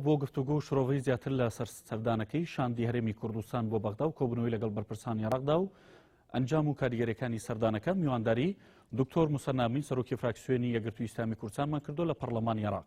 بۆ گفتوگۆ و شرۆڤەی زیاتر لە سەر سەردانەکەی شاندی هەرێمی کوردستان بۆ بەغدا و کۆبنەوەی لەگەڵ بەرپرسانی عێراقدا و ئەنجام و کاریگەریەکانی سەردانەکە میوانداری دکتۆر مسەنامین سەرۆکی فراکسیۆنی یەگرتوو ئیسلامی کوردستانمان کردو لە پەرلەمانی عێراق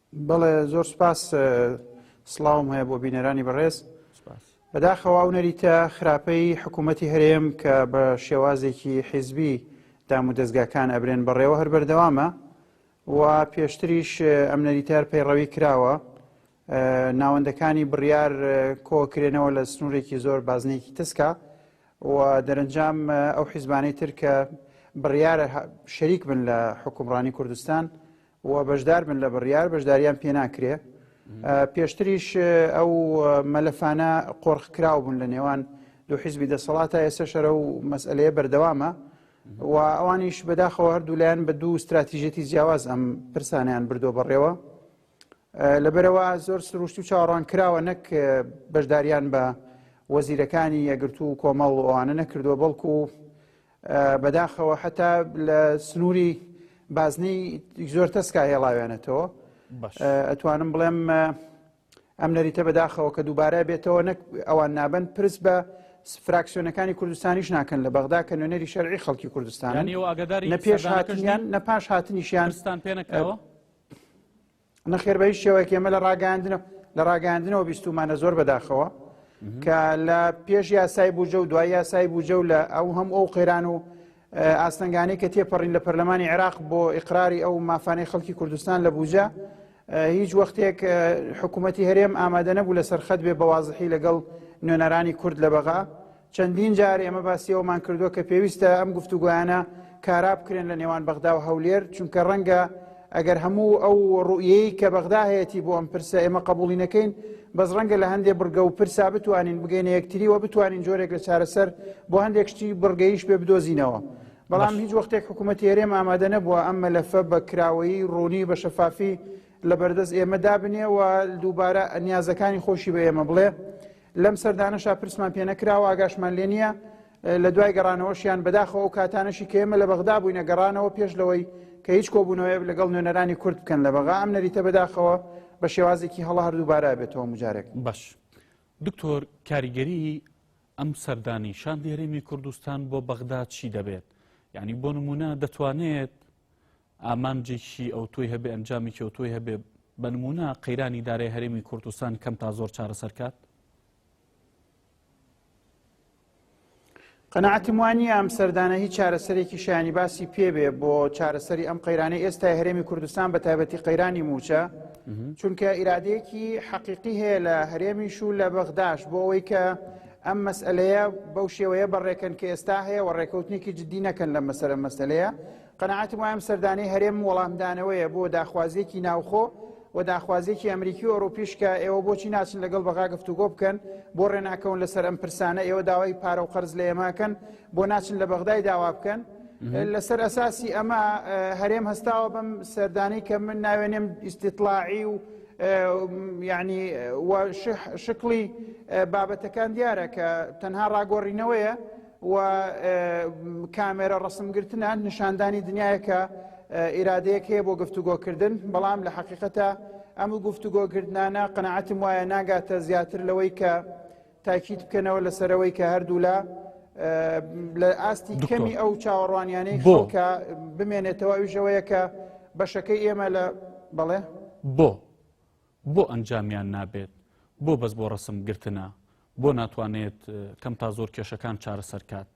بەڵێ زۆر سپاس سڵاوم هەیە بۆ بینەرانی بەڕێز بەداخەوە و نەریتە خراپەی حکوومەتتی هەرێم کە بە شێوازێکی حیزبی دام و دەستگاکان ئەبرێن بەڕێوە هەر بەردەوامە و پێشتریش ئەم نەریتار پەیڕەوی کراوە ناوەندەکانی بڕیار کۆکرێنەوە لە سنوورێکی زۆر بازنێکی تسکە و دەرەنجام ئەو حیزبانەی تر کە بڕیارە شەریک بن لە حکومڕانی کوردستان و بەشدار بن لە بڕیار بەشداریان پێ ناکرێ. پێشتریش ئەو مەلەفانە قۆرخ کراو بوون لە نێوان دوو حیزبی دەسەڵاتە ئێستا شەرە و مەسئلەیە بەردەوامە و ئەوانیش بەداخەوە هەردوو لایەن بە دوو استراتیژێتی جیاواز ئەم پرسانیان بردۆ بەڕێوە لەبەرئەوە زۆر سروشتی و چاوەڕوان کراوە نەک بەشداریان بە وەزیرەکانی یەگرتوو و کۆمەڵ و ئەوانە نەکردووە بەڵکو بەداخەوە حتا لە سنووری بازنەی زۆر تەسکا هێڵاوێنێتەوە ئەتوانم بڵێم ئەم نەریتە بەداخەوە کە دووبارە بێتەوە نەک ئەوان نابن پرس بە فراکسیۆنەکانی کوردستانیش ناکەن لە بەغدا کە نوێنەری شەرعی خەڵکی کوردستان نە پێش هاتنیان نە پاش هاتنیشیانستان پێنەکەەوە نەخێر بە هیچ شێوەیەک ئێمە لە ڕاگەاندنە لە ڕاگەاندنەوە بیستومانە زۆر بەداخەوە کە لە پێش یاسای بوجە و دوای یاسای بوجە و لە ئەو هەم ئەو قێران و ئاستەنگانی کە تێپەڕین لە پەرلەمانی عێراق بۆ ئیقراری ئەو مافانەی خەڵکی کوردستان لە بوجە هیچ وەختێک حکوومەتتی هەرێم ئامادە نەبوو لە سەرخەت بێ بەوازحی لەگەڵ نوێنەرانی کورد لە بەغا چەندین جار ئێمە باسی ئەوەمان کردووە کە پێویستە ئەم گفتوگۆیانە کارا بکرێن لە نێوان بەغدا و هەولێر، چونکە ڕەنگە ئەگەر هەموو ئەو ڕوئیەی کە بەغدا هەیەتی بۆ ئەم پرسە ئێمە قبوڵی نەکەین، بەس ڕەنگە لە هەندێ بڕگە و پرسا بتوانین بگەینە یەکتری و بتوانین جۆرێک لە چارەسەر بۆ هەندێک شتی بڕگەیش پێ بدۆزینەوە. بەڵام هیچ وەختێک حکوومەتی هەرێم ئامادە نەبووە ئەم مەلەفە بە کراوەیی، ڕوونی، بە شەفافی لە بەردەست ئێمە دابنێ و دووبارە نیازەکانی خۆشی بە ئێمە بڵێ. لەم سەردانەشا پرسمان پێ نەکرا و ئاگاشمان لێ نییە، لە دوای گەڕانەوەشیان، بەداخەوە ئەو کاتانەشی کە ئێمە لە بەغدا بووینە گەڕانەوە پێش لەوەی کە هیچ کۆبوونەوەیەک لەگەڵ نوێنەرانی کورد بکەن لە بەغا، ئەم نەریتە بەداخەوە بە شێوازێکی هەڵە هەر دووبارە ئەبێتەوە هەموو جارێک. باش دکتۆر کاریگەریی ئەم سەردانەی شاندی هەرێمی کوردستان بۆ بەغدا چی دەبێت؟ یانی بۆ نموونە دەتوانێت ئامانجێکی ئەوتۆی هەبێ ئەنجامێکی ئەوتۆی هەبێ بە نمونە قەیرانی دارای هەرێمی کوردستان کەم تا زۆر چارەسەرکات قەنەعەتم وانی ئەم سەردانە هیچ چارەسەرێکی شانی باسی پێبێ بۆ چارەسەری ئەم قەیرانی ئێستای هەرێمی کوردستان بە تایبەتی قەیرانی موچە چونکە ئیرادەیەکی حەقیقی هەیە لە هەرێمیش و لە بەغداش بۆ ئەوەی کە ئەم مەسئەلەیە بەو شێوەیە بە ڕێکەن کە ئێستا هەیە و ڕێکەوتنێکی جددی نەکەن لە مەسەرە مەسەلەیە قەناعەتم وایە ئەم سەردانەی هەرێم وەڵامدانەوەیە بۆ داخوازیەکی ناوخۆ و داخوازیەکی ئەمریکی و ئەوروپیش کە ئێوە بۆچی ناچن لەگەڵ بەغا گفتوگۆ بکەن بۆ ڕێناکەون لەسەر ئەم پرسانە ئێوە داوای پارە و قەرز لە ئێمەکەن بۆ ناچن لە بەغدای داوا بکەن لەسەر ئەساسی ئەمە هەرێم هەستاوە بەم سەردانی کە من ناوێنێم ئیسیتلاعی و یانی وە شکڵی بابەتەکان دیارە کە تەنها ڕاگۆڕینەوەیە و کامێرە ڕسمگرتنە نیشاندانی دنیایەکە ئیرادەیەک هەیە بۆ گفتوگۆکردن بەڵام لە حقیقەتە ئەم گفتوگۆکردانە قەنەعەتم وایە ناگاتە زیاتر لەوەی کە تاکید بکەنەوە لەسەرەوەی کە هەردوولا لە ئاستی کەمی ئەو چاوەڕوانیانەی بۆ کە بمێنێتەوە ئەوژەوەیە کە بەشەکەی ئێمە لە بەڵێ بۆ بۆ ئەنجامیان نابێت بۆ بەس بۆ ڕسم گرتنە بۆ ناتوانێت کەم تا زۆر کێشەکان چارەسەر کات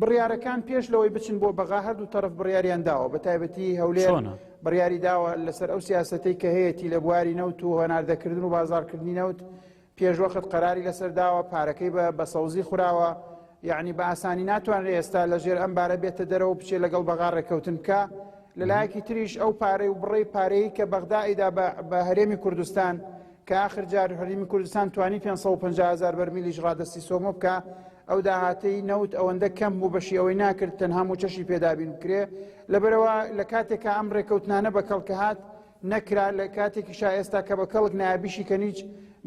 بڕیارەکان پێش لەوەی بچن بۆ بەغا هەردوو تەرەف بڕیاریان داوە بە تایبەتی هەولێر بڕیاری داوە لەسەر ئەو سیاستەی کە هەیەی لە بواری نەوت و هەناردەکردن و بازارکردنی نەوت پێشوەخت قەراری لەسەر داوە پارەکەی بە بە سەوزی خوراوە یعنی بە ئاسانی ناتوانرێ ئێستا لە ژێر ئەم بارە بێتە دەرەوە بچێت لەگەڵ بەغا ڕێککەوتن بکە لەلایەکی تریش ئەو پارەی و بڕی پارەی کە بەغدایدا بە هەرێمی کوردستان کە ئاخر جار هەرێمی کوردستان توانی پێنج سەد و پەنجا هەزار بەرمیلیش ڕادەستی سۆمۆ بکا، ئەو داهاتەی نەوت ئەوەندە کەم بوو بەشی ئەوەی ناکرد تەنها مووچەشی پێ دابین بکرێ، لەبەرئەوە لە کاتێکا ئەم ڕێکەوتنانە بە کەڵک هات نەکرا، لە کاتێکیشا ئێستا کە بە کەڵک نایە بیشیکەن هیچ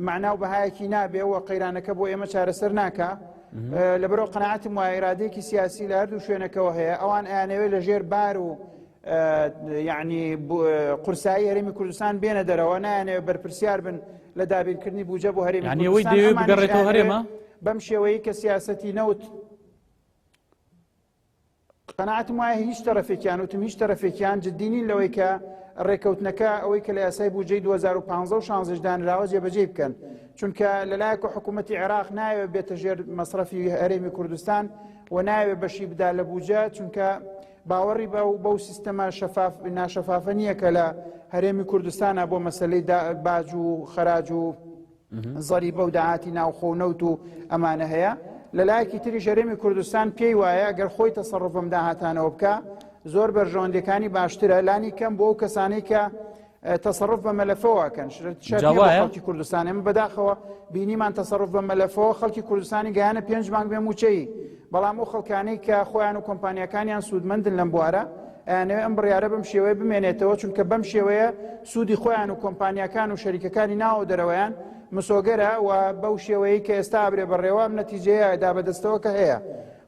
مەعنا و بەهایەکی نابێ و قەیرانەکە بۆ ئێمە چارەسەر ناکا، لەبەرئەوە قەناعەتم وایە ئیرادەیەکی سیاسی لە هەردوو شوێنەکەوە هەیە، ئەوان ئەیانەوێ لە ژێر بار و یعنی قورسایی هەرێمی کوردستان بێنە دەرەوە نایانەوە بەرپرسیار بن لە دابینکردنی بوجە بۆ هەرێمی هەرێمە بەم شێوەیە کە سیاستی نەوت قەنعاتم وایە هیچ تەرەفێکیان وتم هیچ تەرەفێکیان جددینین لەوەی کە ڕێکەوتنەکە ئەوەی کە لە یاسای بودجەی 2015 شانزش دانراوە جێبەجێ بکەن چونکە لەلایەکە حکوومەتتی عێراق ناوێت بێتە ژێر مەصرفی هەرێمی کوردستان و ناوێت بەشی بدا لە بودجە چونکە باوەڕی بە و بەو سیستەمە شەفاف ناشەفافە نییە کە لە هەرێمی کوردستانە بۆ مەسلەی باج و خەراج و زەری بەو داهاتی ناوخۆ و نەوت و ئەمانە هەیە لەلایەکی تری ژەرێمی کوردستان پێی وایە گەر خۆی تەسەڕفم داهاتانەوە بکە زۆر بەرژەوەندەکانی باشترە لانی کەم بۆ ئەو کەسانی کە تەسەڕف بە مەلەفەوە کەن خەڵکی کوردستان ئێمە بەداخەوە بینیمان تەسەڕف بە مەلەفەوە خەڵکی کوردستانی گەیانە پێنج مانگ بێ موچەی بەڵام ئەو خەڵکانەی کە خۆیان و کۆمپانیەکانیان سوودمەندن لەم بوارە ئەیانەوە ئەم بڕیاە بەم شێوەیە بمێنێتەوە چونکە بەم شێوەیە سوودی خۆیان و کۆمپانیەکان و شەریکەکانی ناوە دەرەوەیان مسۆگەرە و بەو شێوەیە کە ئێستا برێ بەڕێوەم نەتیجەیە دا بەدەستەوە کە هەیە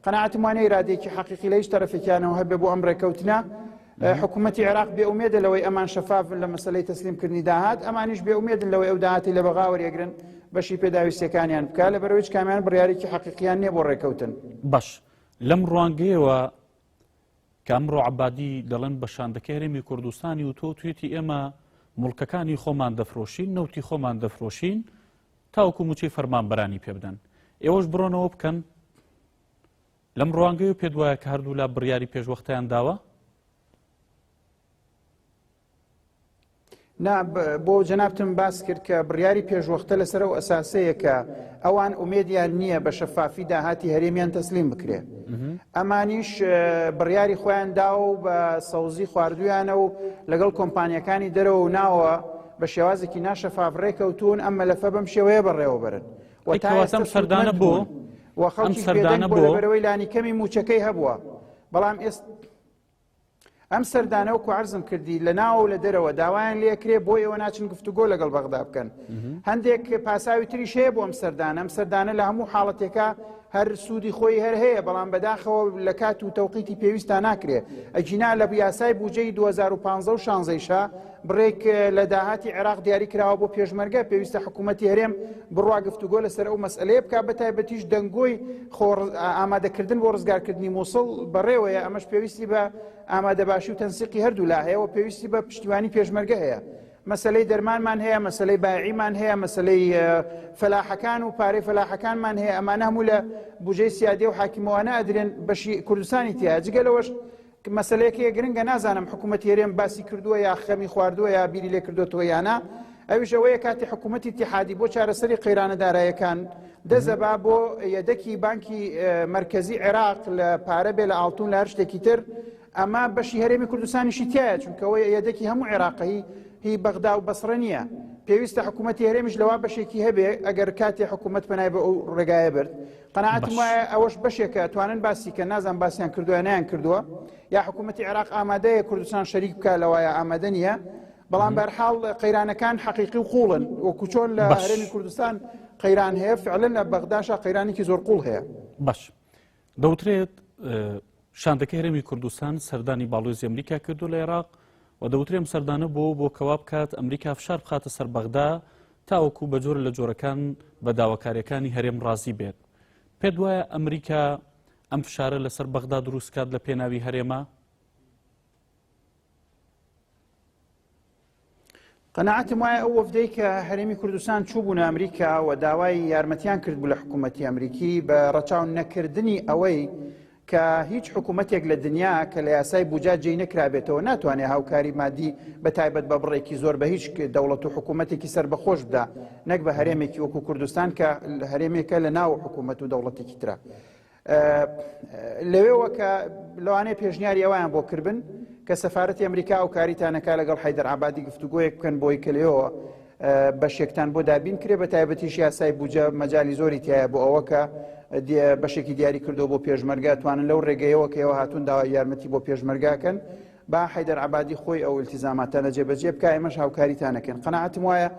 قەنەعاتمانە ئرادێکی حەقیقی لە هیچ تەرەفێکیانەوە هەبێ بۆ ئەم ڕێکەوتنە حکومەتی عێراق بێ ئومێدە لەوەی ئەمان شەفافن لە مەسلەی تەسلیم کردنی داهات ئەمانیش بێ ئومێدن لەوەی ئەو داهاتی لە بەغا وەرێگرن بەشی پێداویستەکانیان بکە لە بەرەوەی کامیان بڕیارێکی حەقیقییان نیە بۆ ڕێکەوتن باش لەم ڕوانگەیەوە کامڕۆ عبادی دەڵێن بە شاندەکە هەرێمی کوردستانی و تۆ توێتی ئێمە مڵکەکانی خۆمان دەفرۆشین نەوتی خۆمان دەفرۆشین تاوکو موچەی فەرمانبەرانی پێ بدەن ئێوەش بڕۆنەوە بکەن لەم ڕوانگەیەوە پێت وایە کە هەردوولا بڕیاری پێشوەختەیان داوە؟ نا بۆ جەنابتم باس کرد کە بڕیاری پێشوەختە لەسەر و ئەساسەیە کە ئەوان ئومێدیان نییە بە شەفافی داهاتی هەرێمیان تەسلیم بکرێ ئەمانیش بڕیاری خۆیان دا و بە سەوزی خواردویانە و لەگەڵ کۆمپانیەکانی دەرەوە و ناوە بە شێوازێکی ناشەفاف ڕێکەوتون ئەم مەلەفە بەم شێوەیە بەڕێوەبرن وەتاسم سەردانە بۆ و خەڵکیش بێدەنگ بوو لەبەرەوەی لانیکەمی مووچەکەی هەبووە بەڵام ئێست ئەم سەردانە و کوعرزم کردی لە ناوە و لە دەرەوە داوایان لەکرێ بۆ ئێوە ناچن گفتوگۆ لەگەڵ بەغدا بکەن هەندێک پاساوی تریش هەیە بۆ ئەم سەردانە ئەم سەردانە لە هەموو حاڵەتێکە هەر سوودی خۆی هەر هەیە بەڵام بەداخەوە لە کات و تەوقیتی پێویستە ناکرێ ئەجینا لە یاسای بودجەی 2015 و شانزەیشە بڕێک لە داهاتی عێراق دیاری کراوە بۆ پێشمەرگە، پێویستە حکوومەتی هەرێم بڕوا گفتوگۆ لەسەر ئەو مەسئەلەیە بکات، بەتایبەتیش دەنگۆی ئامادەکردن بۆ ڕزگارکردنی مووسڵ بەڕێوەیە، ئەمەش پێویستی بە ئامادەباشی و تەنسیقی هەردوو لا هەیە و پێویستی بە پشتیوانی پێشمەرگە هەیە. مەسەلەی دەرمانمان هەیە، مەسەلەی بایعیمان هەیە، مەسەلەی فەلاحەکان و پارەی فەلاحەکانمان هەیە، ئەمانە هەموو لە بوجەی سیادیە و حاکمەوانە ئەدرێن، بەشی کوردستانی تیایە، جگە لەوەش مەسەلەیەک هەیە گرنگە نازانم حکوومەتی هەرێم باسی کردووە یا خەمی خواردووە یا بیری لێ کردوەوە یانە ئەویش ئەوەیە کاتی حکوومەتی تحادی بۆ چارەسەری قەیرانە دارایەکان دەزەبا بۆ یەدەکی بانکی مرکزی عێراق لە پارە بێ لە ئاڵتون لە هەر شتێکی تر ئەمە بەشی هەرێمی کوردستانیشی تایە چونکەوە یەدەکی هەموو عێراقی هی بەغدا و بەسڕە نییە پێویستە حکوومەتی هەرێمیش لەوا بەشێکی هەبێ ئەگەر کاتی حکوومەت پەنای بە ئەو ڕێگایە برد قەناعەتم باش. وایە ئەوەش بەشێکە توانن باسی کە نازان باسیان کردووە نیان کردووە یا حکوومەتتی عێراق ئامادەیە کوردستان شەریک بکە لەوەیە ئامادە نییە بەڵام بەرحاڵ قەیرانەکان حەقیقی و قوڵن وەکو چۆن لە باش. هەرێمی کوردستان قەیران هەیە فعلن لە بەغداشا قەیرانێکی زۆر قوڵ هەیە باش دەوترێت اه، شاندەکەی هەرێمی کوردستان سەردانی باڵۆزی ئەمریکا کردو لە عێراق و دەوترێم سەردانە بۆ بۆ کەوا بکات ئەمریکا فشار بخاتە سەر بەغدا تاوەکو بە جۆرە لە جۆرەکان بە داواکاریەکانی هەرێم ڕازی بێت پێت وایە ئەمریکا ئەم فشارە لەسەر بەغدا دروستکات لە پێناوی هەرێمە؟ قەنەعەتم وایە ئەو وەفدەی کە هەرێمی کوردستان چوبوون ئەمریکا و داوای یارمەتیان کرد بوو لە حکوومەتتی ئەمریکی بە ڕەچاو نەکردنی ئەوەی کە هیچ حکوومەتێک لە دنیا کە لە یاسای بوجا جێی نەکرابێتەوە ناتوانێت هاوکاری مادی بە تایبەت بە بڕێکی زۆر بە هیچ دەوڵەت و حکوومەتێکی سەر بەخۆش بدا نەک بە هەرێمێکی وەکو کوردستان کە هەرێمێکە لە ناو حکوومەت و دەوڵەتێکی ترە لەوێەوە کە لەوانەیە پێشنیاری ئەویان بۆ کردن کە سەفاەتی ئەمریکا و کاریتانەکە لەگەڵ حیدەر عبادی گفتوگوۆیەک بکەن بۆی کە لێەوە بەشێکتان بۆ دابین کرێ بە تایبەتیش یاسای بوجە مەجای زۆری تایە بۆ ئەوە کە بەشێکی دیاری کردو بۆ پێشمەرگە توانن لەو ڕێگەیەوە کە ئێوە هاتون داوا یارمەتی بۆ پێشمەرگاکەن با حیدەر عبادی خۆی ئەو التزاماتانە جێبەجێ بکە ئێمەش هاوکاریتانەکەن قەنەعەتم وایە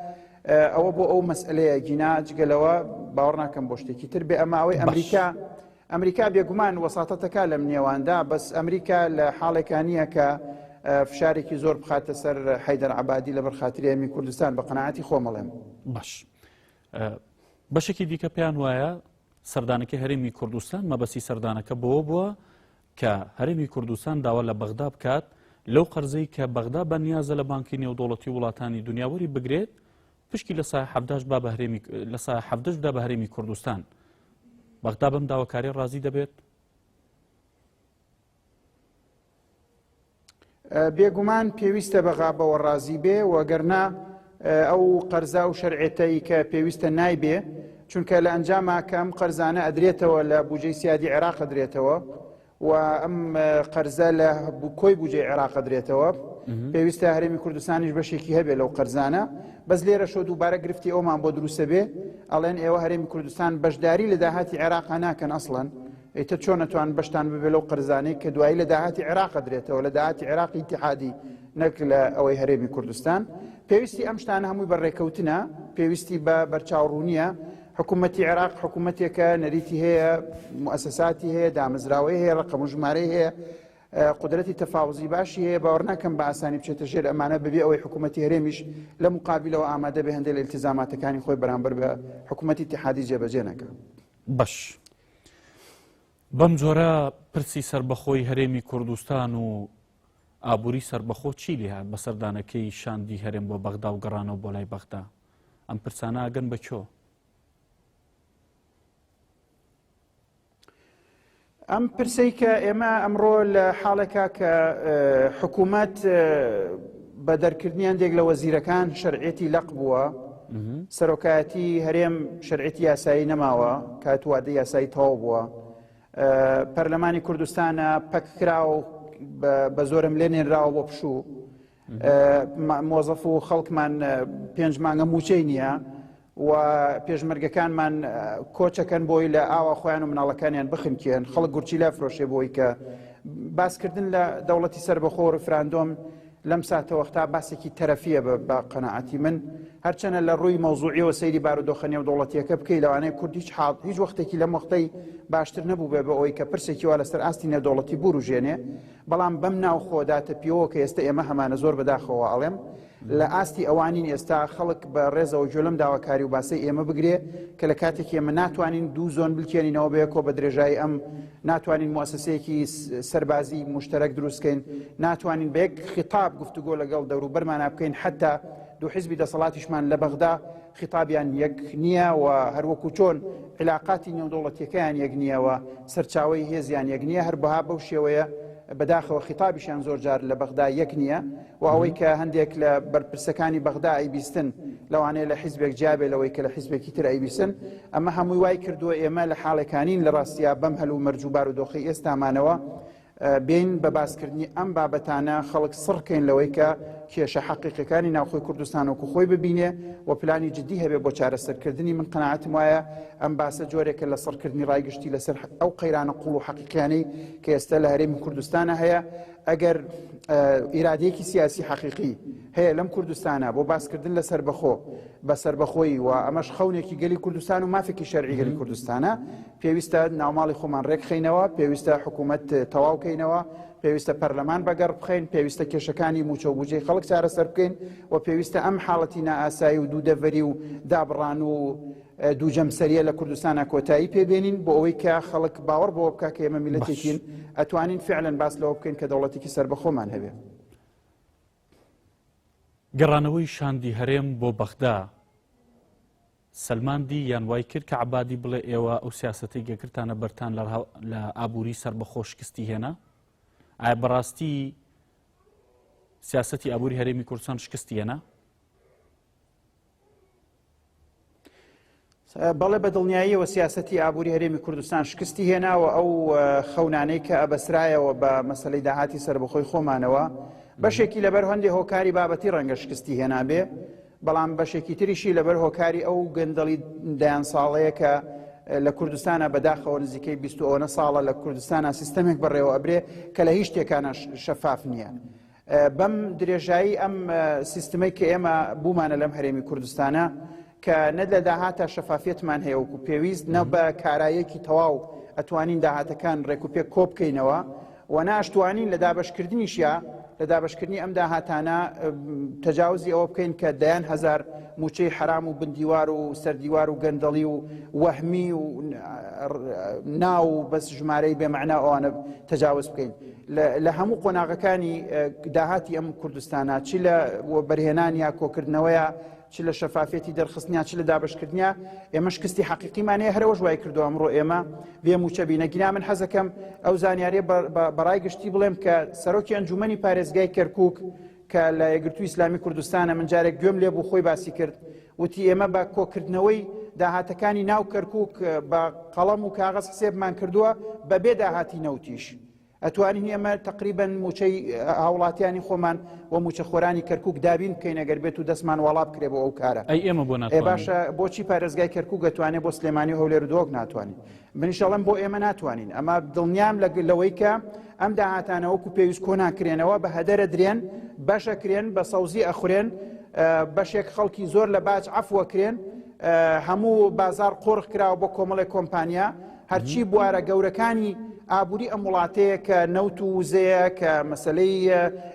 ئەوە بۆ ئەو مەسئلەیە گینا جگەلەوە باوەڕ ناکەم بۆ شتێکی تر بێ ئەمە ئەوەی ئەمریکا ئەمریکا بێگومان وەساطە دەکات لەم نێواندا، بەس ئەمریکا لە حاڵێکا نییە کە فشارێکی زۆر بخاتە سەر حەیدەر عەبادی لەبەر خاتری هەرێمی کوردستان بە قەناعەتی خۆم ئەڵێم. باش. بەشێکی دیکە پێیان وایە سەردانەکەی هەرێمی کوردستان مەبەستی سەردانەکە بەوە بووە کە هەرێمی کوردستان داوا لە بەغدا بکات لەو قەرزەی کە بەغدا بە نیازە لە بانکی نێودوڵەتی وڵاتانی دنیاوەری بگرێت پشکی لە سایە حەڤداش با بە هەرێمی لە سایە حەڤدەش بدا بە هەرێمی کوردستان بەغدا بەم داواکاری ڕازی دەبێت بێگومان پێویستە بەغا بەوە ڕازی بێ وەگەرنا ئەو قەرزا و شەرعێتەی کە پێویستە نایبێ چونکە لە ئەنجاماکەم قەرزانە ئەدرێتەوە لە بجێ سیادی عێراق ئەدرێتەوە و ئەم قەرزە لە کۆی بوجێ عێراق قدرێتەوە پێویستە هەرێمی کوردستانیش بەشێکی هەبێ لەو قەرزانە بەس لێرە شۆ دووبارە گرفتی ئەومان بۆ دروستە بێ ئەڵێن ئێوە هەرێمی کوردستان بەشداری لە داهاتی عێراق ناکەن ئەسڵەن ئیتە چۆنەتوان بەشتان ببێ لەو قەرزانەی کە دوایی لە داهاتی عێراق درێتەوە لە داهاتی عێراقی اتحادی نەک لە ئەوەی هەرێمی کوردستان پێویستی ئەم شتانە هەمووی بە ڕێکەوتنە پێویستی بە بەرچاوڕوونیە حکومەتی عێراق حکومەتێکە نەریتی هەیە موسساتی هەیە دامەزراوەی هەیە ڕقم و ژمارەی هەیە قدرەتی تەفاوزی باشی هەیە باوەڕ ناکەم بە ئاسانی بچێتە ژێر ئەمانە ببێ ئەوەی حکوومەتتی هەرێمیش لە مقابلەوە ئامادە بە هەندێک لە التزاماتەکانی خۆی بەرامبەر بە حکوومەتتی تحادی جێبەجێ نەکە بەش بەم جۆرە پرسی سربەخۆی هەرێمی کوردستان و ئابووری سربەخۆ چی لێهات بە سەردانەکەی شاندی هەرێم بۆ بەغدا و گەڕانەوە بۆ لای بەغدا ئەم پرسانە ئەگەن بە چۆ ئەم پرسەی کە ئێمە ئەمڕۆ لە حاڵێکا کە حکوومەت بە دەرکردنیان دێک لە وەزیرەکان شەرعەتی لەق بووە سەرۆکایەتی هەرێم شەرعەتی یاسایی نەماوە کاتوادە یاسایی تەواو بووە پەرلەمانی کوردستانە پەککراوە بە زۆرم لێ نێنراوە بۆ پشوو مۆزەف و خەڵکمان پێنج مانگە موچەی نییە و پێشمەرگەکانمان کۆچەکەن بۆی لە ئاوا خۆیان و مناڵەکانیان بخنکێن خەڵک گورچی لا فرۆشێ بۆی کە باسکردن لە دەوڵەتی سەر بەخۆ ڕفراندۆم لەم ساتەوەختا باسێکی تەرەفیە بە قەنەعاتی من هەرچەنە لە ڕووی مەوزوعیەوە سەیری بارودۆخە نێو دەوڵەتیەکە بکەی لەوانەیە کورد هیچ حاڵ هیچ وەختێکی لەم وەختەی باشتر نەبوو بێ بە ئەوەی کە پرسێکی وا لەسەر ئاستی نێودەوڵەتی بوروژێنێ بەڵام بەم ناوخۆدا تەپیەوە کە ئێستە ئێمە هەمانە زۆر بەداخەوە ئەڵێم لە ئاستی ئەوانین ئێستا خەڵک بە ڕێزەوە جۆ لەم داواکاری و باسەی ئێمە بگرێ کە لە کاتێک ئێمە ناتوانین دوو زۆن بلکێنینەوە بەیەکۆ بە درێژایی ئەم ناتوانین موسسەیەکی سەربازی مشتەرەک دروستکەین ناتوانین بەیەک خیتاب گفتوگۆ لەگەڵ دەوروبەرمانە بکەین حتا دوو حزبی دەسەڵاتیشمان لە بەغدا خیتابیان یەک نییە و هەر وەکوو چۆن عیلاقاتی نێودەوڵەتیەکەیان یەک نییە و سەرچاوەی هێزیان یەک نییە هەر بەها بەو شێوەیە بەداخەوە خیتابیشیان زۆر جار لە بەغدا یەک نییە و ئەوەی کە هەندێک لە بەرپرسەکانی بەغدا ئەیبیستن لەوانەیە لە حیزبێک جیابێ لەوەی کە لە حیزبێکی تر ئەیبیسن ئەمە هەمووی وای کردووە ئێمە لە حاڵێکانین لە ڕاستیا بەم هەل و مەرج و بارودۆخی ئێستامانەوە بێین بە باسکردنی ئەم بابەتانە خەڵک سڕ کەین لەوەی کە کێشە حەقیقەکانی ناوخۆی کوردستان وەکو خۆی ببینێ و پلانی جددی هەبێ بۆ چارەسەرکردنی من قەنەعەتم وایە ئەم باسە جۆرێکە لە سڕکردنی ڕای گشتی لەسەر ئەو قەیرانە قوڵ و حەقیقیانەی کە ئێستا لە هەرێمی کوردستانە هەیە ئەگەر ئیرادەیەکی سیاسی حەقیقی هەیە لەم کوردستانە بۆ باسکردن لە سربەخۆ بە سربەخۆی و ئەمەش خەونێکی گەلی کوردستان و مافێکی شەرعی گەلی کوردستانە پێویستە ناوماڵی خۆمان رێکخەینەوە، پێویستە حکوومەت تەواو کەینەوە، پێویستە پەرلەمان بە گەڕ بخەین، پێویستە کێشەکانی مووچە و بوجەی خەڵک چارەسەر بکەین و پێویستە ئەم حاڵەتی نائاسایی و دوو دەڤەری و دابڕان و دوو جەمسەریە لە کوردستانە کۆتایی پێبێنین بۆ ئەوەی کە خەڵک باوەڕ بەوە بکە کە ئێمە میلەتێکین ئەتوانین فعلەن باس لەوە بکەین کە دەوڵەتێکی سەر بەخۆمان هەبێ. گەڕانەوەی شاندی هەرێم بۆ بەغدا. سەلماندی یان وای کرد کە عەبادی بڵێ ئێوە ئەو سیاسەتەی گەگرتانە بەرتان لە ئابووری سەربەخۆ شکستی هێنا؟ ئایا بەڕاستی سیاسەتی ئابووری هەرێمی کوردستان شکستی هێنا؟ بەڵێ بە دڵنیاییەوە سیاستی ئابووری هەرێمی کوردستان شکستی هێناوە ئەو خەونانەی کە ئەبەسرایەوە بە مەسلەی داهاتی سربەخۆی خۆمانەوە بەشێکی لەبەر هەندێک هۆکاری بابەتی ڕەنگە شکستی هێنابێ بەڵام بەشێکی تریشی لەبەر هۆکاری ئەو گەندەڵی دەیان ساڵەیە کە لە کوردستانە بەداخەوە نزیکەی بیست ئەوەنە ساڵە لە کوردستانە سیستەمێک بەڕێوە ئەبرێ کە لە هیچ شتێکانە شەفاف نییە. بەم درێژایی ئەم سیستمەی کە ئێمە بوومانە لەم هەرێمی کوردستانە کە نە لە داهاتە شەفافەتمان هەیە وکو پێویست نە بە کارایەکی تەواو ئەتوانین داهاتەکان ڕێکوپێک کۆبکەینەوە و ناشتوانین لە دابەشکردنیشیا لە دابەشکردنی ئەم داهاتانە تەجاوزی ئەوە بکەین کە دەیان هزار موچەی حرام و بندیوار و سەردیوار و گەندەڵی و وەهمی و ناو و بەس ژمارەی بێمەعنا ئەوانە تەجاوز بکەین لە هەموو قۆناغەکانی داهاتی ئەم کوردستانە چی لە بەرهێنان یا کۆکردنەوەیە چ لە شەفافیەتی دەرخستنیا چ لە دابەشکردنیا ئێمە شکستی حەقیقیمان هەیە هەرەوەش وای کردو ئەمڕۆ ئێمە بێ موچە بینە گینا من حەزەکەم ئەو زانیاریە بەڕای گشتی بڵێم کە سەرۆکی ئەنجومەنی پارێزگای کەرکک کە لە یەگرتو ئیسلامی کوردستانە من جارێک گوێم لێ بوو خۆی باسی کرد وتی ئێمە بە کۆکردنەوەی داهاتەکانی ناو کەرکک بە قەڵەم و کاغەز حسێبمان کردووە بەبێ داهاتی نەوتیش ئەتوانین ئێمە تەقریبەن موچەی هاوڵاتیانی خۆمان و موچەخۆرانی کەرکک دابین بکەین گەر بێت و دەستمان واڵا بکرێ بۆ ئەو کارە ئەی ئێمە بۆ ناتوانین؟ ئێ باشە بۆچی پارێزگای کەرکک گەتوانێ بۆ سلێمانی هەولێر دۆک ناتوانین منیشەڵم بۆ ئێمە ناتوانین ئەمە دڵنیام لە لەوەی کە ئەم داهاتانەوەکو پێویست کۆنان کرێنەوە بە هەدەرە درێن بەشە کرێن بە سەوزی ئەخورێن بەشێک خەڵکی زۆر لە باج عفوەکرێن هەموو بازار قۆرخ کراوە بۆ کۆمەڵی کۆمپانیا هەرچی بوارە گەورەکانی ئابووری ئەم وڵاتەیە کە نەوت و وزەیە کە مەسلەی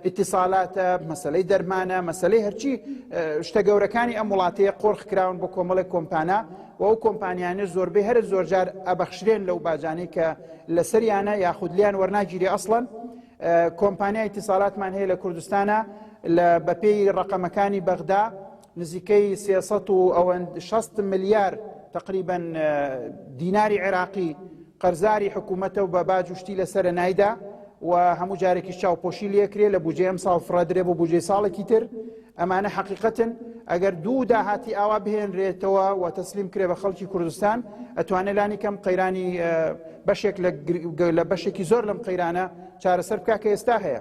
ئیتیسالاتە مەسلەی دەرمانە مەسلەی هەرچی شتە گەورەکانی ئەم وڵاتەیە قۆرخ کراون بۆ کۆمەڵێک کۆمپانە و ئەو کۆمپانیانە زۆربەی هەر زۆرجار ئەبەخشرێن لەو باجانەی کە لەسەریانە یاخود لیان وەرناگیری ئەسڵەن کۆمپانیای تیساالاتمان هەیە لە کوردستانە لە بەپێی ڕقەمەکانی بەغدا نزیکەی سێ سەد و ئەوەند شەست ملیار تقریبەن دیناری عێراقی قەرزاری حکوومەتە و بە باج وشتی لە سەرە نایدا و هەموو جارێکی چاوپۆشی لەکرێ لە بجێ ئەم ساڵ فڕدرێ بۆ بجێ ساڵێکی تر ئەمانە حقیقەتن ئەگەر دوو داهاتی ئاوا بهێنرێتەوە و تەسلیم کرێ بە خەڵکی کوردستان ئەتوانێت لانی کەم قەیرانی بەشێک لە بەشێکی زۆر لەم قەیرانە چارەسەر بکە کە ئێستا هەیە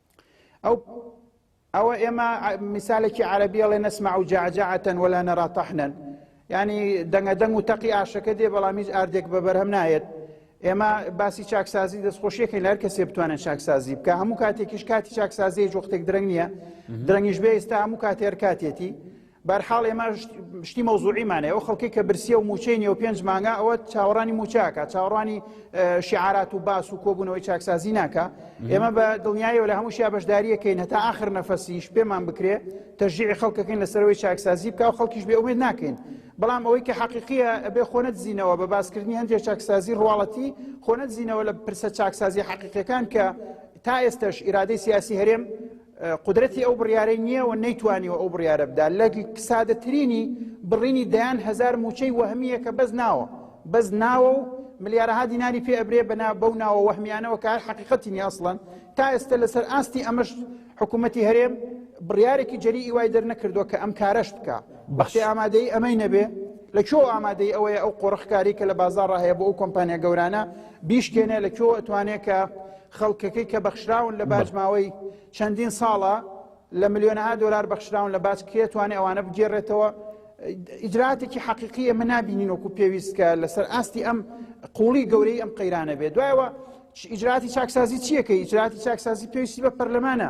ئەو ئەوە ئێمە میسالێکی عربی ئەڵێ نەسمع و جاجعتەن ولا نەرا تەحنەن ینی دەنگە دەنگ و تەقی ئاشەکە دێ بەڵام هیچ ئاردێک بە بەرهەم نایەت ئێمە باسی چاکسازی دەستخۆشیەکەین لەر کەسێ بتوانن چاکسازی بکە هەموو کاتێکیش کاتی چاکسازی جوختێک درەنگ نییە درەنگیش بێ ئێستا هەموو کاتێر کاتێتی بەرحاڵ ئێمە شتی مەوزوعیمانەیە ئەو خەڵکی کە برسیە و موچەی نیە و پێنج مانگا ئەوە چاوەڕانی موچاکە چاوەڕانی شعارات و باس و کۆبوونەوەی چاکسازی ناکە ئێمە بە دڵنیایەوە لە هەمووشیا بەشداریەکەین هەتا آخر نەفەسیش پێمان بکرێ تەژیعی خەڵکەکەین لەسەرەوەی چاکسازی بکە و خەڵکیش بێ ئومێد ناکەین بەڵام ئەوەی کە حەقیقیە ئەبێ خۆنەت زیینەوە بە باسکردنی هەندێک چاکسازی ڕواڵەتی خۆنەت زیینەوە لە پرسە چاکسازی حەقیقەکان کە تا ئێستش ئیرادەی سیاسی هەرێم قودرەتی ئەو بڕیارەی نییە و نەیتوانیوە ئەو بڕیارە بدا لە سادەترینی بڕینی دەیان هەزار موچەی وەهمیە کە بەس ناوە بەس ناوە و ملیارەها دیناری پێ ئەبرێ بەنا بەو ناوە وەهمیانەوە کە هەر حقیقەتی نیە ئەسڵەن تا ئێستا لەسەر ئاستی ئەمەش حکوومەتی هەرێم بڕیارێکی جەری ئیوای دەرنەکردووە کە ئەم کارەش بکە بەخشی ئامادەی ئەمەی نەبێ لە چۆ ئامادەی ئەوەیە ئەو قۆڕخکاری کە لە بازار ڕاهەیە بۆ ئەو کۆمپانیا گەورانە بیشکێنێ لە کوێوە ئەتوانێ کە خەڵکەکەی کە بەخشراون لە باج ماوەی چەندین ساڵە لە ملیۆنەها دۆلار بەخشراون لە باج کێ توانێ ئەوانە بگێڕێتەوە ئیجراتێکی حەقیقی ئەمە نبینین وەکو پێویست کە لەسەر ئاستی ئەم قوڵی گەورەی ئەم قەیرانە بێت دوایەوە ئیجراتی چاکسازی چیەکە ئیجراتی چاکسازی پێویستی بە پەرلەمانە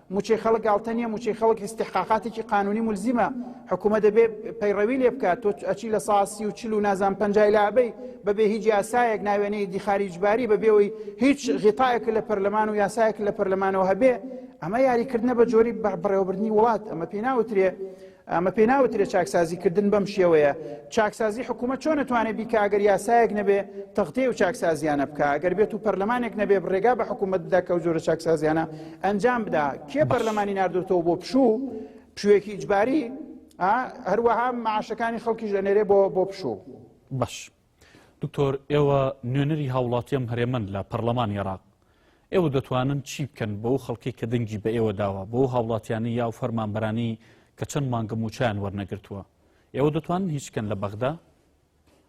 موچەی خەڵک گاڵتە نیە موچەی خەڵک ئیستحقاقاتێکی قانونی ملزیمە حکوومەت دەبێ پەیڕەوی لێ بکات تۆ ئەچی لە سا سی و چل و نازان پەنجای لابەی بەبێ هیچ یاسایەک ناوێنەی دیخاری جباری بەبێەوەی هیچ غیتایەک لە پەرلەمان و یاسایەک لە پەرلەمانەوە هەبێ ئەمە یاریکردنە بە جۆری بەڕێوەبردننی وڵات ئەمە پێی ناوترێ ئەمە پێ ناوترێ چاکسازی کردن بەم شێوەیە چاکسازی حکوومەت چۆن نەتوانێت بیکە ئەگەر یاسایەک نەبێ تەختەیە و چاکسازیانە بکە ئەگەر بێت و پەرلەمانێک نەبێ ڕێگا بە حکوومەت بدا کە و جۆرە چاکسازیانە ئەنجام بدا کێ پەرلەمانی نردوتەوە بۆ پشوو پشوێکی ئیجباری هەروەها معاشەکانی خەڵکیش ئەنێرێ بۆ بۆ پشوو باش. دکتۆر ئێوە نوێنەری هاوڵاتیەم هەرێمەن لە پەرلەمانی عێراق ئێوە دەتوانن چی بکەن بەو خەڵکی کە دەنگی بە ئێوە داوە بۆ هاوڵاتیانی یاو فەرمانبەرانی کە چەند مانگە موچیان وەرنەگرتووە ئێوە دەتوانن هیچ بکەن لە بەغدا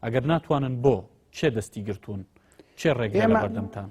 ئەگەر ناتوانن بۆ کێ دەستی گرتوون چێ ڕێگە بەردەمتان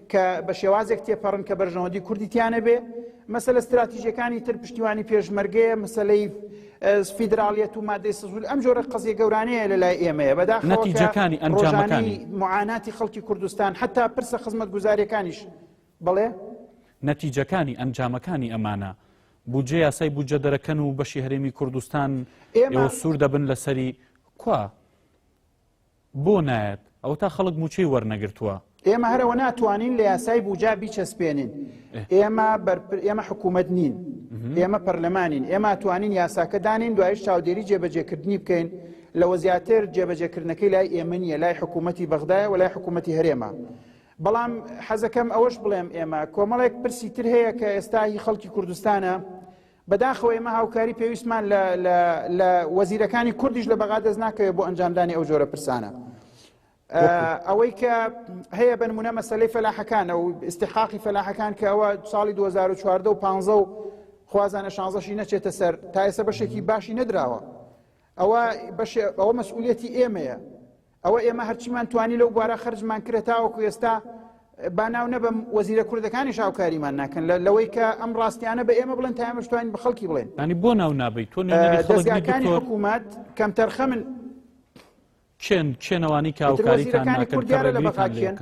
کە بە شێوازێک تێپەڕن کە بەرژەوەندی کوردی تیانە بێ مەسلە استراتیژەکانی تر پشتیوانی پێشمەرگەیە مەسلەی فیدراالیەت و مادەی سزول ئەم جۆرە قزیە گەورانەیە لە لای ئێمەیە بەداخەتیجەکانی ئەنجامەکانی معاناتی خەڵکی کوردستان حتا پرسە خزمەت گوزارەکانیش بڵێ نەتیجەکانی ئەنجامەکانی ئەمانە بودجە یاسای بودجە دەرەکەن و بەشی هەرێمی کوردستان ئێمە سوور دەبن لەسەری کوا بۆ نایەت ئەوەتا خەڵک موچەی وەرنەگرتوە. ئێمە هەر ئەوە ناتوانین لە یاسای بوجا بیچەسپێنین ئێمە بەرپر ئێمە حکومەت نین ئێمە پەرلەمانین ئێمە ئەتوانین یاساکە دانین دوایش چاودێری جێبەجێکردنی بکەین لەوە زیاتر جێبەجێکردنەکەی لای ئێمە نیە لای حکوومەتی بەغدایە و لای حکوومەتی هەرێمە بەڵام حەزەکەم ئەوەش بڵێم ئێمە کۆمەڵێک پرسی تر هەیە کە ئێستا هی خەڵکی کوردستانە بەداخەوە ئێمە هاوکاری پێویستمان لە وەزیرەکانی کوردیش لە بەغا دەست ناکەوێت بۆ ئەنجامدانی ئەو جۆرە پرسانە. ئەوەی کە هەیە بنمونە مەسلەی فەلاحەکانە و استحقاقی فەلاحەکان کە ئەوە ساڵی 2014 و 15 و خوازانە شانزەشی نەچێتە سەر تا ئێستا بەشێکی باشی نەدراوە ئەوە ئەوە مەسئولەتی ئێمەیە ئەوە ئێمە هەرچیمان توانی لەو بوارە خرجمان کرە تاوەکو ئێستا با ناو نەبم وەزیرە کوردەکانی شاوکاریمان ناکەن لەوەی کە ئەم ڕاستیانە بە ئێمە بڵێن تایمەشتوانین بە خەڵکی بڵێن ئەنی بۆ ناو نابیت تۆ دەستگاکانی حکوومەت کەم تەرخەمن چێن چێنەوانی کاوکاریەکانی کوردیان لە بەخاکیان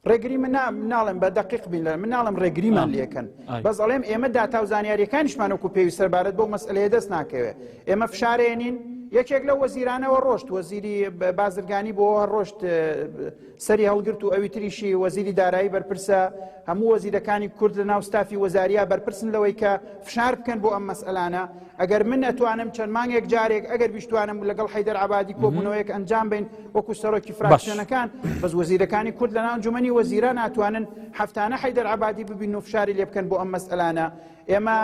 ڕێگری من ناڵێم بە دقیق بین من ناڵم ڕێگریمان لەکەن بەس ئەڵێم ئێمە داتا و زانیاریەکانیشمانەکو پێوی سەربارەت بۆ مەسلەیە دەست ناکەوێت ئێمە فشارێنین یەکێک لە وەزیرانەوە ڕۆشت وەزیری بازرگانی بۆ ڕۆشت سەری هەڵگرت و ئەوی تریشی وەزیری دارایی بەرپرسە هەموو وەزیرەکانی کورد لە ناوستافی وەزاریا بەرپرسن لەوەی کە فشار بکەن بۆ ئەم مەسئلانە ئەگەر من ئەتوانم چەند مانگێک جارێک ئەگەر بیشتوانم لەگەڵ حیدەر عبادی کۆبوونەوەیەک ئەنجام بین وەکو سەرۆکی فراکسیۆنەکان بەس وەزیرەکانی کورد لە ناونجومنی وەزیران ناتوانن هەفتانە حیدەر عبادی ببین و فشاری لێ بکەن بۆ ئەم مەسئلانە ئێمە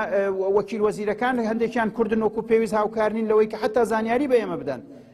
وەکیل وەزیرەکان هەندێکیان کوردن وەکو پێویست هاوکارنین لەوەی کە حتا زانیاری بە ئێمە بدەن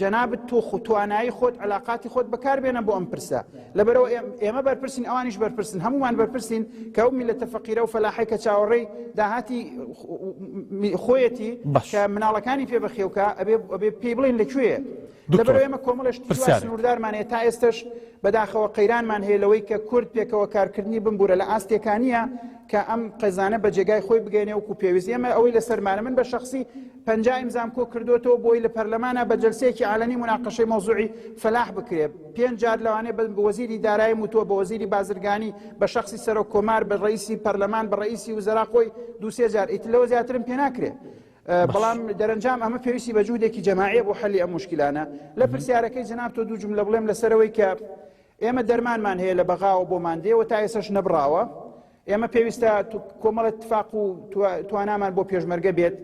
جەنابت تۆخ و توانایی خۆت علااقاتی خۆت بەکاربێنە بۆ ئەم پرسە لەبەرەوە ئێمە بەرپرسین ئەوانیش بەرپرسن هەمومان بەرپرسین کە ئەو میلەتە فەقیرە و فەلاحی کە چاوەڕێی داهاتی خۆیەتی کە مناڵەکانی پێ بەخێوکە ئەبێ ئەبێ پێی بڵین لەکوێ لەبەر ئێمە کۆمەڵێش سنووردارمان هەیە تا ئێستش بەداخەوە قەیرانمان هەیە لەوەی کە کورد پێکەوە کارکردنی بمبورە لە ئاستێکانە کە ئەم قەزانە بە جێگای خۆی بگەێنێ وکو پێویست ئێمە ئەوەی لەسەرمانە من بە شخصی پەنجا ئیمزام کۆ کردوێتەوە بۆی لە پەرلەمانە بە جلسەیەکی عالەنی مناقەشەی مۆزوعی فەلاح بکرێت پێنج جار لەوانێ بە وەزیری دارایی وتووە بە وەزیری بازرگانی بە شخصی سەرۆک کۆمار بە ڕئیسی پەرلەمان بە ڕئیسی وزرا خۆی دوسێ جار ئیت لەوە زیاترم پێ ناکرێت. بەڵام دەرەنجام ئەمە پێویستی بە جوودێکی جەماعە بۆ حەلی ئەم مشکلانە لە پرسیارەکەی جناب تۆ دوو جملە بڵێم لەسەرەوەی کە ئێمە دەرمانمان هەیە لە بەغاوە بۆ ماندێەوە تا ئێسش نەبراوە ئێمە پێویستە کۆمەڵە تفاق و توانامان بۆ پێشمەرگە بێت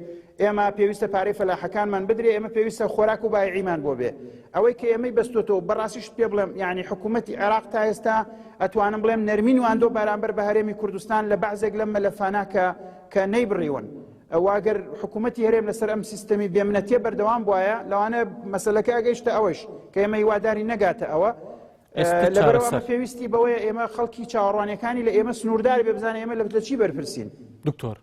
ئێمە پێویستە پارەی فەلاحەکانمان بدرێ ئێمە پێویستە خۆراک و بایعیمان بۆ بێ ئەوەی کە ئێمەی بەستۆتەوە بەڕاستیش پێ بڵێم یعنی حکوومەتتی عێراق تا ئێستا ئەتوانم بڵێم نەرمین واندۆ بارامبەر بە هەرێمی کوردستان لە بەعزێک لەم مەلەفانە کە کە نەیبڕیون واگەر حکوومەتتی هەرێم لەسەر ئەم سیستەمی بێمنەتێ بەردەوام بواە لەوانە مەسلەکە ئەگەیشتە ئەوەش کە ئێمە هیواداری نەگاتە ئەوە لەبەرەوە ئەمە پێویستی بەوەیە ئێمە خەڵکی چاوەڕوانەکانی لە ئێمە سنووردار بێ بزانە ئێمە لە چی بەرپرسین دکتۆر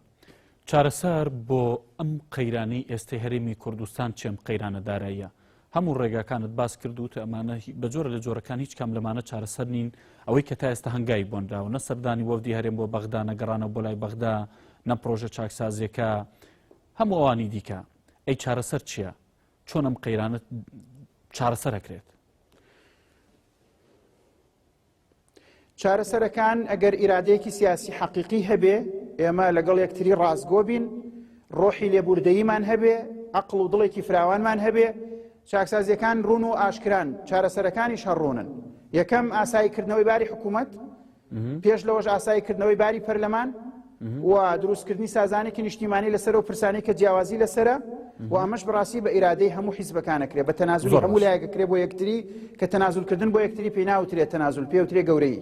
چارەسەر بۆ ئەم قەیرانەی ئێستی هەرێمی کوردستان چێم قەیرانە داراییە هەموو ڕێگاکانت باس کردووت ئەمانە بە جۆرە لە جۆرەکان هیچ کام لەمانە چارەسەر نین ئەوەی کە تا ئێستا هەنگای بۆنراوە نە سەردانی وەفدی هەرێم بۆ بەغدا نەگەڕانە بۆ لای بەغدا نە پرۆژە چاکسازیەکە هەموو ئەوانی دیکە ئەی چارەسەر چییە؟ چۆن ئەم قەیرانە چارەسەرەکرێت؟ چارەسەرەکان ئەگەر ئیرادەیەکی سیاسی حەقیقی هەبێ ئێمە لەگەڵ یەکتری ڕاستگۆ بین ڕۆحی لێبوردەیمان هەبێ ئەقل و دڵێکی فراوانمان هەبێ چاکسازیەکان ڕون و ئاشکران چارەسەرەکانیش هەڕونن یەکەم ئاساییکردنەوەی باری حکوومەت پێش لەوەش ئاسایی کردنەوەی باری پەرلەمان و دروستکردنی سازانێکی نیشتیمانی لەسەر و پرسانی کە جیاوازی لەسرە و ئەمەش بڕاستی بە ئیرادەی هەموو حیزبەکانەکرێ بە تەنازولی هەموو لایەکەکرێ بۆ یەکتری کە تەنازولکردن بۆ یەکتری پێی ناوترێت تەنازول پێوترێ گەورەی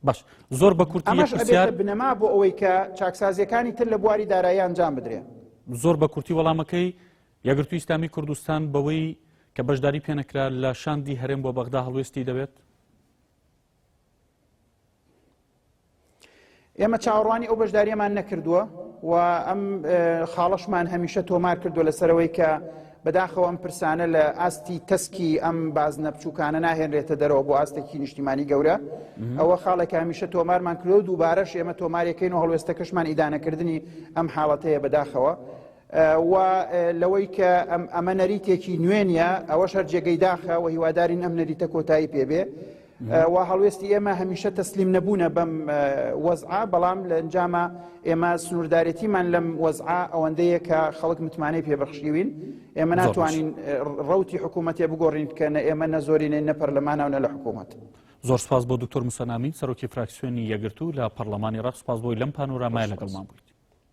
باش زۆر بە کورتی ئەمەش ئەبێتە بنەما بۆ ئەوەی کە چاکسازیەکانی تر لە بواری دارایی ئەنجام بدرێ زۆر بە کورتی وەڵامەکەی یەگرتو ئیسلامی کوردستان بەوەی کە بەشداری پێنەکرا لە شاندی هەرێم بۆ بەغدا هەڵوێستی دەبێت ئێمە چاوەڕوانی ئەو بەشداریەمان نەکردووە و ئەم خاڵشمان هەمیشە تۆمار کردو لەسەرەوەی کە بەداخەوە ئەم پرسانە لە ئاستی تەسکی ئەم بازنە بچووکانە ناهێنرێتە دەرەوە بۆ ئاستێکی نیشتیمانی گەورە ئەوە خاڵێک هەمیشە تۆمارمان کرۆ دووبارەش ئێمە تۆمارەکەین و هەڵوێستەکەشمان ئیدانەکردنی ئەم حاڵەتەیە بەداخەوە و لەوەی کە ئەمە نەریتێکی نوێ نیە ئەوە شەر جێگەی داخە و هیوادارین ئەم نەریتە کۆتایی پێبێ و هەڵوێستی ئێمە هەمیشە تەسلیم نەبوونە بەم وەزعا بەڵام لە ئەنجامە ئێمە سنووردارێتیمان لەم وەزعا ئەوەندەیە کە خەڵک متمانەی پێبەخشیوین ئێمە ناتوانین ڕوتی حکوومەتێ بگۆڕین کە نە ئێمە نە زۆرینەی نە پەرلەمانە و نە لە حکوومەت. زۆر سپاس بۆ دکتۆر مسەنامی سەرۆکی فراکسیۆنی یەگرتو لە پەرلەمانی ڕەق سپاس بۆی لەم پانۆرامای لەگەڵمان بوویت.